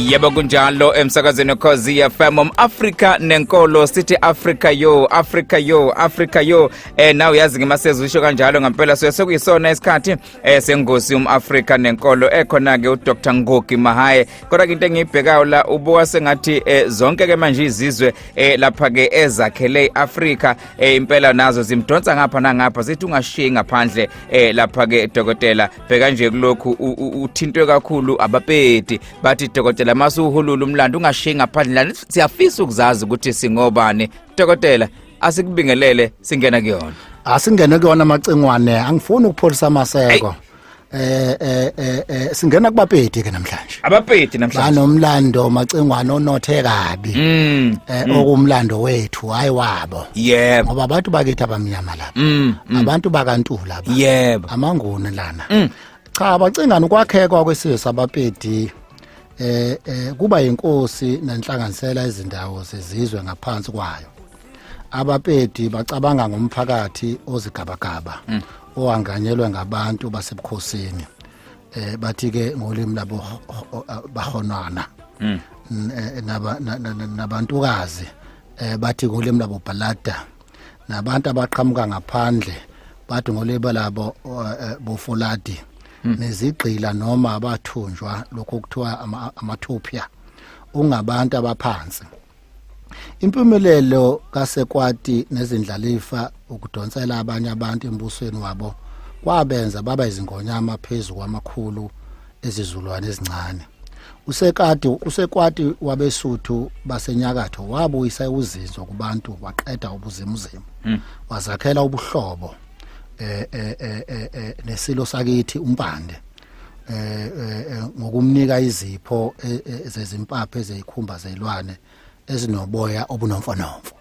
yebo kunjalo emsakazweni wekhozi fm um-afrika nenkolo sithi afrika yo afrika yo afrika yo um eh, naw yazi ngemasezisho kanjalo ngampela suye sekuyisona isikhathi esengosi um-afrika nenkolo ekhona-ke udr ngogi mahaye kodwa-ke into engiyibhekayo la ubuka sengathi eh, zonke-ke manje izizwe eh, lapha-ke ezakhele i-afrika eh, impela nazo zimdonsa ngapha nangapha zithi ungashiyi ngaphandle eh, lapha-ke dokotela bheka nje kulokhu uthintwe kakhulu abapedi bathi dokotela mase uhulula umlando ungashiyi ngaphandle lani siyafisa ukuzazi ukuthi singobani dokotela asikubingelele singena kuyona asingene kuyona amacingwane angifuni ukupholisa amaseko eh eh eh, eh singena kubapedi ke namhlanje abapedi namhlanje banomlando macingwane onothe kabi mm, eh mm. okumlando wethu hayi wabo yebo ngoba abantu bakithi abamnyama lapha mm, mm. abantu bakantula yebo amanguni lana mm. cha bacingani ukwakhekwa kwesizwe sabapedi eh, eh kuba inkosi nenhlanganisela izindawo zezizwe ngaphansi kwayo abapedi bacabanga ngomphakathi ozigabagaba mm. owanganyelwe ngabantu basebukhosini eh bathi ke ngolimi labo bahonwana mm. eh, nabantukazi eh bathi ngolimi labo balada nabantu abaqhamuka ngaphandle bathi ngoleba labo eh, eh, bofoladi hmm. nezigqila noma abathunjwa lokho kuthiwa amathupha ungabantu abaphansi impumelelo kasekwati nezindlalifa ukudonsela abanye abantu embusweni wabo kwabenza baba izingonyama phezu kwamakhulu ezizulwane ezincane usekati usekwati wabesuthu basenyakatho wabuyisa uzinzo kubantu waqeda ubuzimuzimu hmm. wazakhela ubuhlobo eh, eh, eh, eh nesilo sakithi umpande eh, eh ngokumnika izipho e, e, zezimpaphe zezikhumba zelwane ezinoboya obunomfonomfo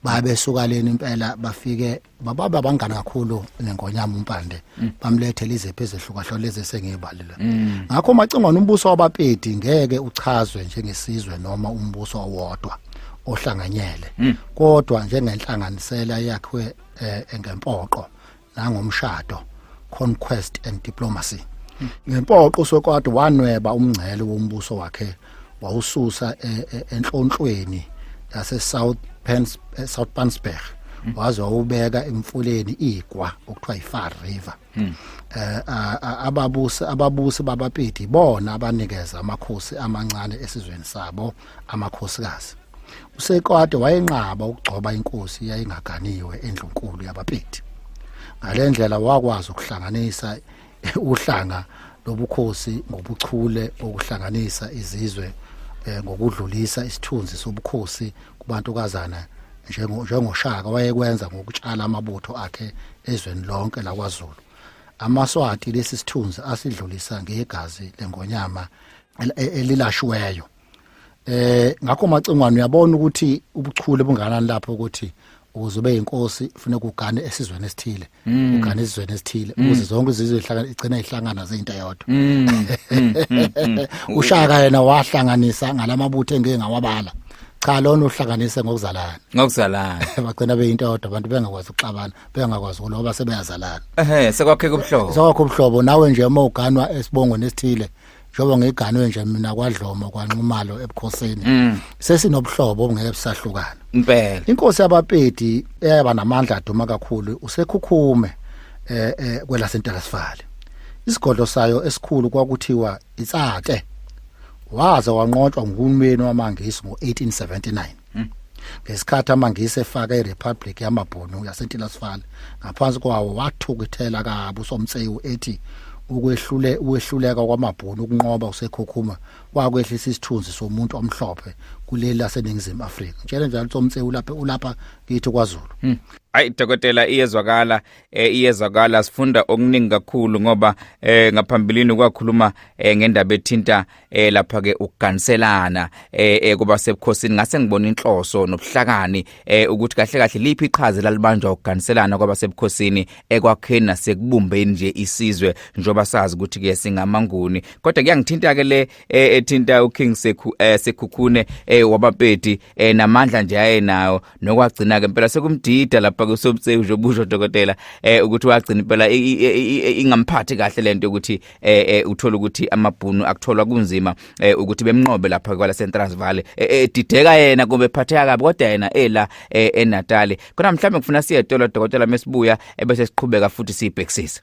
babesukaleni impela bafike bababe abangani kakhulu nengonyama umpande mm. bamlethe lizephi ezehlukahlwa lezi esengiyibalile mm. ngakho macingwana umbuso wabapedi ngeke uchazwe njengesizwe noma umbuso owodwa ohlanganyele mm. kodwa njengenhlanganisela yakhiwe eh, engempoqo nangomshado conquest and diplomacy ngempoqo sokwade wanweba umngcele wombuso wakhe wawususa e, e, enhlonhlweni yase South Pens e, South Pansberg hmm. waze wawubeka emfuleni igwa okuthiwa iFar River hmm. eh ababusi ababusi babapedi bona abanikeza amakhosi amancane esizweni sabo amakhosikazi usekwade wayenqaba ukugcoba inkosi yayingaganiwe endlunkulu yabapedi ngalendlela wakwazi ukuhlanganisa uhlanga lobukhosi ngobuchule bokuhlanganisa izizwe eh, ngokudlulisa isithunzi sobukhosi kubantukazana njengoshaka wayekwenza ngokutshala amabutho akhe ezweni lonke lakwazulu amaswati lesi sithunzi asidlulisa ngegazi lengonyama e-, elilashiweyo eh ngakho macingwane uyabona ukuthi ubuchule bunganani lapho ukuthi ukuze ube inkosi ufuna kugane esizweni esithile mm. ugane esizweni esithile mm. ukuze zonke izizwe ihlangana igcina ihlangana zeinto yodwa mm. ushaka yena wahlanganisa ngalamabutho engeke ngawabala cha lona uhlanganise ngokuzalana ngokuzalana bagcina beyinto yodwa abantu bengakwazi ukuxabana bengakwazi ukuloba sebeyazalana ehe sekwakheka ubuhlobo sekwakho ubuhlobo nawe nje uma uganwa esibongweni esithile njengoba ngiganwe nje mina kwadloma kwanxumalo ebukhosini mm. sesinobuhlobo obungeke busahlukana impela inkosi yabapedi eyaba namandla aduma kakhulu usekhukhume eh, eh kwela sentelasifale isigodlo sayo esikhulu kwakuthiwa itsake waze wanqotshwa nguhulumeni wamangisi ngo1879 Hmm. ngesikhathi amangisi efaka iRepublic yamaBhunu yaseNtilasifale ngaphansi kwawo wathukithela kabi uSomtsewu ethi ukwehlule ukwehluleka kwamaBhunu ukunqoba usekhokhuma kwakwehlisa isithunzi somuntu omhlophe kuleli laseningizimu Afrika ngitshela njalo uSomtsewu lapha ulapha kithi kwaZulu hmm. ayi dokotela iyezwakala eh, iyezwakala sifunda okuningi kakhulu ngoba eh, ngaphambilini kwakhuluma eh, ngendaba ethinta eh lapha ke ukuganiselana eh, eh kuba sebukhosini ngase ngibona inhloso nobuhlakani eh ukuthi kahle kahle liphi iqhaza lalibanjwa ukuganiselana kwaba sebukhosini ekwakheni nasekubumbeni nje isizwe njoba sazi ukuthi ke singamanguni kodwa kuyangithinta ke le eh, ethinta uKing Sekhu eh, Sekhukhune eh wabapeti eh namandla nje ayenawo nokwagcina ke impela sekumdida lapha kusobsewu nje ubusho dokotela eh ukuthi wagcina impela ingamphathi kahle lento ukuthi eh, eh uthola ukuthi amabhunu akutholwa kunzima eh, ukuthi bemnqobe lapha kwala Central Valley edideka eh, yena kumbe phatheka kabi kodwa yena ela eNatal khona mhlawumbe kufuna siye etolo dokotela mesibuya ebese siqhubeka futhi sibhekisisa